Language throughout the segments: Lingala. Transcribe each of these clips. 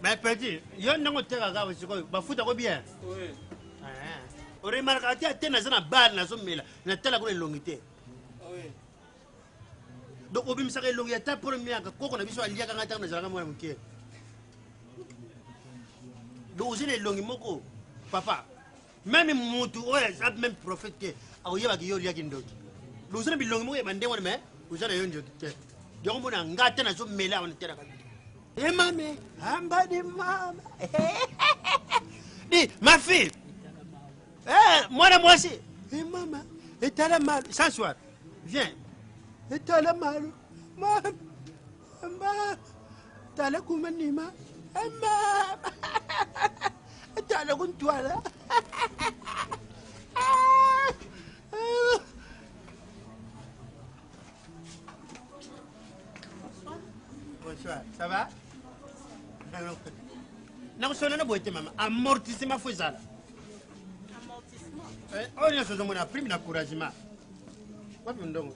Mais petit, yo ndenge otekaka sikoyo bafuta ko bien oremarkaka te ate naza na bare nazomela natala kuna elongi te donc obimisaka elongi ya ta polo miaka koko na biso aliaka ngai ntango nazalaka mwana moke donc ozwi na elongi moko papa meme mutu oyo aza meme prophète te akoyebaka yo oliaki ndoki boza na bilongi moko ya bandenge wana mais oza na yo ndoki te yango mona nga te nazomela wana te na kabili e mame amba de mama di ma fille eh, mwana mwasi e mama etala malu sans soir viens etala malu mama Mama, tala kuma nima. Mama, tala kuntwala. Bonsoir, ça va? nakusona na boye te mama amortissement fo ezala eh, oyo nyonso ozomona prime na couragement wapi ndongo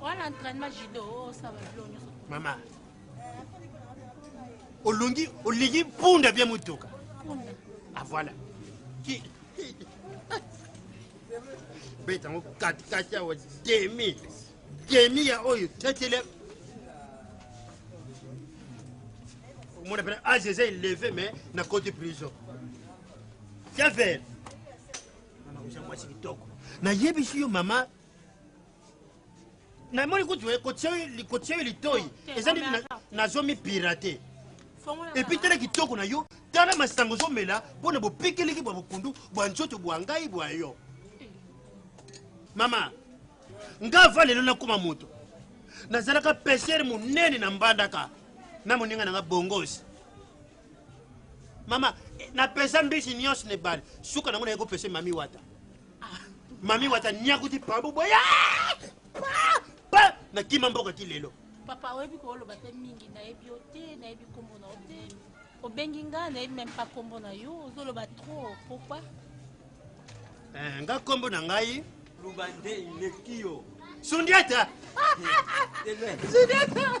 wana entraînement judo osala bilo nyonso mama olongi olingi mpunda bie motuka ah voilà beta yango katikati awa demi demi ya oyo tetele omona pena age eza eleve mais na cote prison Javel. Mama oza mwasi kitoko. Nayebisi yo mama namoni kutu kotia yo litoi eza nini nazomi pirate epi tala kitoko na yo tala masango ozomela mpo na bopikeliki bwa bokundu bwa nzoto bwa ngai bwa yo mama nga va lelo nakoma moto nazalaka pesere monene na mbandaka na moninga na nga bongosi mama na pesa mbisi nyonso na ebale suka nango naye kopesa mami wata mami wata nyakuti pabu boya nakima mboka ti lelo papa oyebi kooloba te mingi nayebi yo te nayebi nkombo na yo te obengi ngai nayebi meme pa nkombo na yo ozoloba trop pourquoi eh, nga nkombo na ngai luba nde eleki yo sundiata sundiata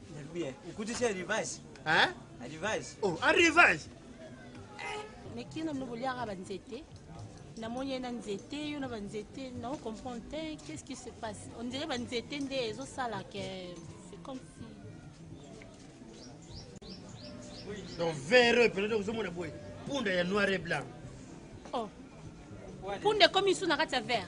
Bien. Ukuti c'est rivage. Hein? Rivage. Oh, un rivage. Mais qui n'a pas liara ba nzete? Na moni na nzete, yo na ba nzete, na comprendre te, qu'est-ce qui se passe? On dirait ba nzete nde ezo sala que c'est comme si Donc véreux, peut-être vous avez boy. Punda ya noir et blanc. Oh. Punda comme ils sont na kati ya vert.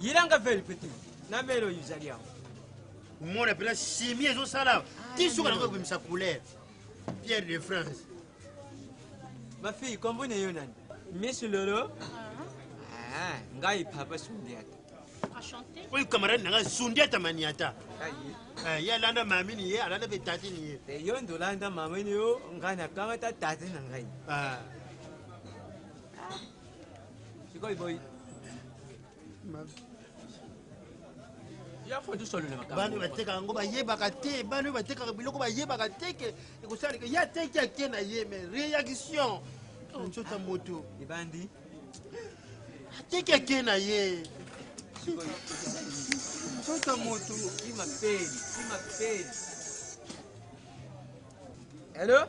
yilanga veli pete na velo yuzali yango omona mpena simi ezosala ah, ti suka nango ekobimisa couleur pierre de france ma fille kombo na yo nani miss lolo ah. Ah, ngai papa sundiata oyo camarade na ngai sundiata maniata eh, ye alanda mamini ye alanda mpe tatini ye eh, yo nde olanda mamini yo ngai nakangata tate na ngai Sikoyo boy. bano batekaka yango bayebaka te bano batekaka biloko bayebaka te ke ekosalika ye ateki ake na ye me réaction nzota oh. moto ebandi ateki ake na ye nzota moto imapeli imapeli hello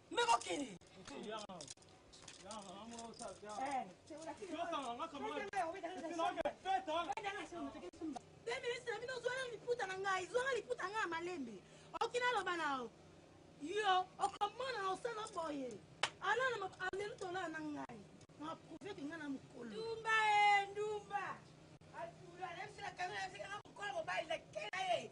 Mais mokili. Te ministre na bino ozwala liputa na ngai zwanga liputa ngai ya malembe oki naloba na yo yo okomona na osala boye alala alelu tolala na ngai na prouve ke ngai na mokolo ndumba e ndumba atula na biso na kanga na biso kanga mokolo mobali na kela ye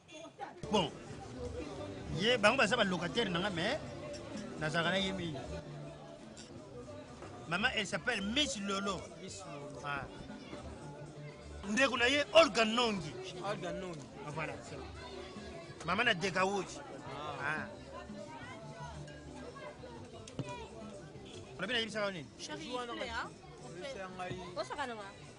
Bon, ye bango baza ba locataire na nga mais nazalaka na ye mingi. Maman elle s'appelle Miss Lolo. Miss Lolo. Ah. Ndeko na ye Olga Nongi. Olga Nongi. Ah, voilà, c'est bon. Maman na Dekawoji. Ah. ah. Olabina yebisaka nini? Chérie, hein? Osaka na nga.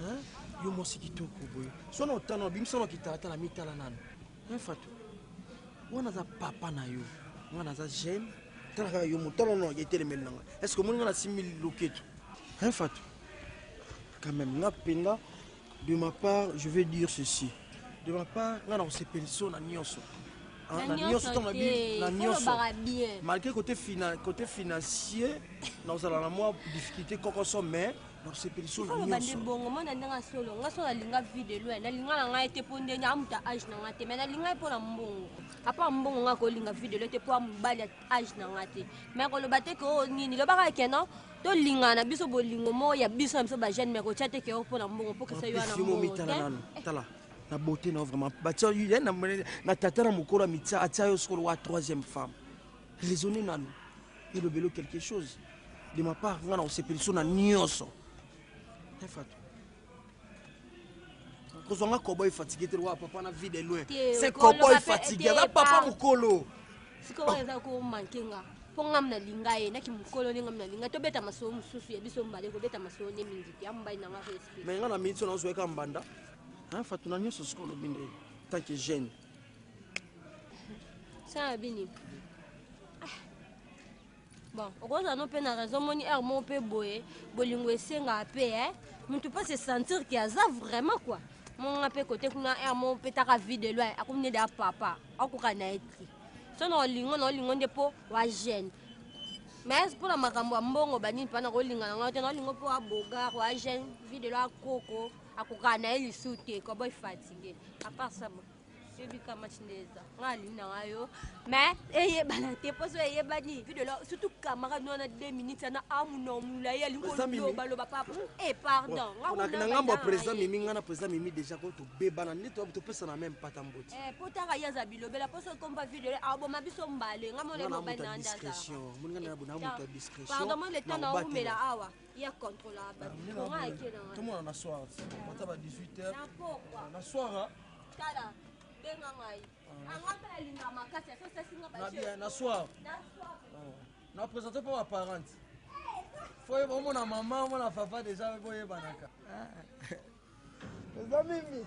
Hein? Yo mwasi kitoko boye. Sona otana obimisa na kitalatala mitala nanu. Hein Fatou? Wana za papa na yo. Nga naza jeune. Tala kaka yo motala na yetelemeli na nga. Est-ce que omoni nga na simili loketo? Hein Fatou? Quand même nga penga De ma part, je vais dire ceci. De ma part, nga na kosepeliso na nyonso. Hein, na nyonso ntango na bi- na nyonso kolobaka bien malgré côté, fina, côté financier nakozala na mwa difficulté kokoso mais nakosepeliso na oloba nde nyonso bongo mwana ndenge ya solo nga so nalinga vie de loin nalinga na ngai te mpo nde amuta age na ngai te mai nalinga ye mpo na mbongo apa mbongo nga kolinga vie de loin te mpo ya mobali ya age na nga te mais koloba te ke oyo oh, nini lobaka ke non tolingana biso bolingo moko ya biso na biso bajeune mais kotya te ke oyo oh, mpo na mbongo mpo kesa yo wana mbongo na beauté na vraiment batya ye na tata na mokolo amitya atya yo sokolo wa troisième femme raisonne nanu elobelo quelque chose de ma part nga na kosepeliso na nyonso efatu kozwa nga kobo efatigue te lokola papa na vie de loin se kobo efatigue aza papa mokolo sikoyo eza komanke nga mpo ngam nalinga ye naki mokolo nde ngam nalinga tobeta masolo mosusu ya biso mbale kobeta masolo nde mingi te ambai nanga respect me nga na miniti oyo nazweka mbanda fatu na nyonso sikoyo olobi nde tant que jeune sana bini Bon, okozala no pe na raison moni heure moko pe boye bolingo esengaka pe eh mutu pe se sentir que aza vraiment quoi. Monga pe kote kuna heure moko pe taka vie de loin akomi nde da papa akoka na ye te. So na olingo na olingo nde po wa jeune. Mais pona makambo ya mbongo ba nini pa na kolinga na ngai te na olingo po wa bogar wa jeune vie de loin koko akoka na ye lisu te koboy fatigue à part ça bon. ebika match nde eza nga alingi na nga yo mais eyebana te mpo so eyebani videla surtout camarade wana 2 minutes ana amuna omulai alingi kolobaloba papa e eh, pardon na ngambo ya président mimi nga na président mimi déjà ko tobebana nde topesana meme pata mboti eh, mpo taka ye aza bilobela mpo so kompa videla aboma biso mbale nga mona mobali na ndazapardon eh, mo leta na omela awa ya contrôlable ah, tomona na soir ata ba 18 heures na soir Tala, benga ngai. Ah. Anga mpe nalinga makasi, aso sasi nga ba jeu. Na soir. Na soir. Oh. Na présente mpo ba parents. Faut yeba omona maman, omona papa déjà boyebanaka. Ah. Eza mimi.